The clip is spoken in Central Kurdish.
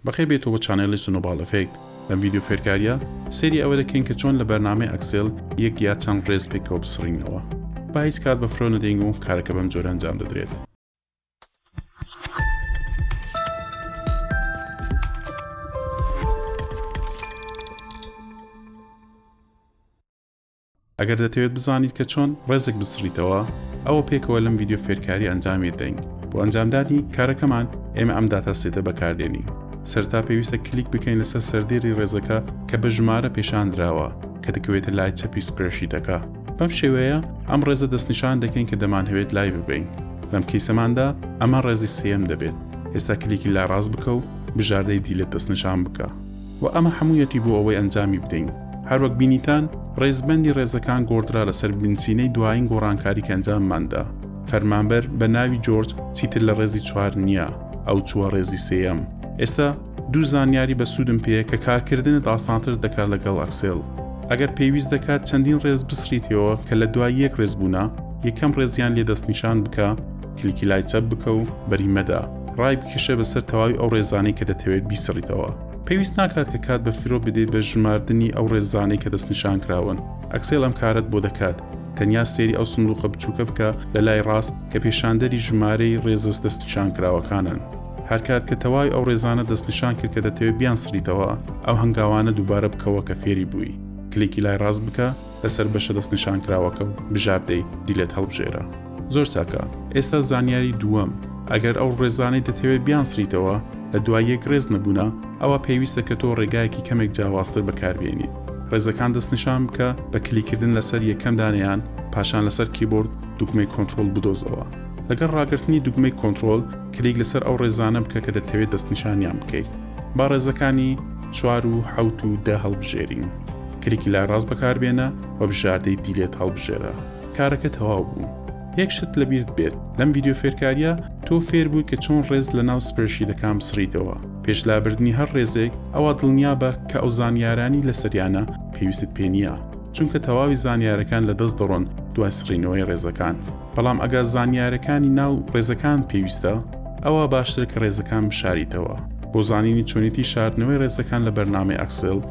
بەخێر بێیتەوە چانێڵی سنۆباڵ ئەفێکت لەم ڤیدیۆ فێرکاریە سەیری ئەوە دەکەین کە چۆن لە بەرنامەی ئەکسێل یەک یا چەند ڕێز پێکەوە بسڕینەوە با هیچ کات بە فرۆ نەدەین و کارەکە بەم جۆرە ئەنجام دەدرێت. ئەگەر دەتەوێت بزانیت کە چۆن ڕێزێک بسڕیتەوە ئەوە پێکەوە لەم ڤیدیۆ فێرکاری ئەنجامی بدەین بۆ ئەنجامدانی کارەکەمان ئێمە ئەم داتا سێتە بەکاردێنین سەرتا پێویستە کلیک بکەین لەسەر سەردێری ڕێزەکە کە بە ژمارە پێشاندراوە کە دەکەوێتە لای چەپی سپرێشیتەکە بەم شێوەیە ئەم ڕێزە دەستنیشان دەکەین کە دەمانهەوێت لای ببین لەم کەیسەماندا ئەمە ڕێزی سێم دەبێت ئێستا کلیکی لا ڕاست بکە و بژاردەی دیلێت دەستنیشان بکە وە ئەمە هەموویەتی بۆ ئەوەی ئەنجامی بدەین. هەروەک بینیتان، ڕیزبەندی ڕێزەکان گۆڕدرا لەسەر بنچینەی دوایین گۆڕانکاری کە ئەنجاممان دا. فەرمانبەر، بە ناوی جۆرج، چیتر لە ڕێزی چوار نییە، ئەو چووە ڕێزی سێیەم. ئێستا دوو زانیاری بە سوودم پێیە کە کارکردنت ئاسانتر دەکات لەگەڵ ئەکسێل. ئەگەر پێویست دەکات چەندین ڕێز بسڕیتەوە کە لە دوای یەک ڕێز بوونە، یەکەم ڕێزیان لێ دەستنیشان بکە، کلیکی لای چەپ بکە و بەری مەدە. ڕای بکێشە بەسەر تەواوی ئەو ڕێزانەی کە دەتەوێت بیسڕیتەوە. پێویست ناکات کە کات بە فرۆ بدەیت بە ژماردنی ئەو ڕێزانەی کە دەستنیشانکراون. ئەکسێل ئەم کارەت بۆ دەکات. تەنیا سەیری ئەو سندوقە بچووکە بکە لە لای ڕاست کە پێشاندەری ژمارەی ڕێزە دەستنیشانکراوەکانن. هەرکات کە تەواوی ئەو ڕێزانە دەستنیشان کرد کە دەتەوێت بیانسڕیتەوە، ئەو هەنگاوانە دووبارە بکەوە کە فێری بووی. کلیکی لای ڕاست بکە. لەسەر بەشە دەستنیشانکراوەکە و بژاردەی دیلت هەڵبژێرە. زۆر چاکە. ئێستا زانیاری دووەم، ئەگەر ئەو ڕێزانەی دەتەوێت بیانسڕیتەوە لە دوای یەک ڕێز نەبوونە، ئەوا پێویستە کە تۆ ڕێگایەکی کەمێک جیاوازتر بەکاربێنیت. ڕێزەکان دەستنیشان بکە بە کلیککردن لەسەر یەکەم دانەیان، پاشان لەسەر کیبۆرد دوگمەی کۆنتڕۆڵ بدۆزەوە. لەگەڵ ڕاگرتنی دوگمەی کۆنتڕۆڵ، کلیک لەسەر ئەو ڕێزانە بکە کە دەتەوێت دەستنیشانیان بکەیت. با ڕێزەکانی چوار و حەوت و دە هەڵبژێرین. کلیکی لای ڕاست بەکاربێنە و بژاردەی دیلێت هەڵبژێرە کارەکە تەواو بوو یەک شت لەبیرت بێت لەم ڤیددیو فێرکاریە تۆ فێر بووی کە چۆن ڕێز لە ناو سپرشیدەکان بسڕیتەوە پێش لابردنی هەر ڕێزێک ئەوە دڵنیابە کە ئەو زانیارانی لە سریانە پێویستت پێ نییە چونکە تەواوی زانیارەکان لە دەست دەڕۆن دوای سڕینەوەی ڕێزەکان بەڵام ئەگا زانیارەکانی ناو ڕێزەکان پێویستە ئەوە باشتر کە ڕێزەکان بشاریتەوە بۆ زانینی چۆنیتی شاردنەوەی ڕێزەکان لە بەرنامەی ئەکسل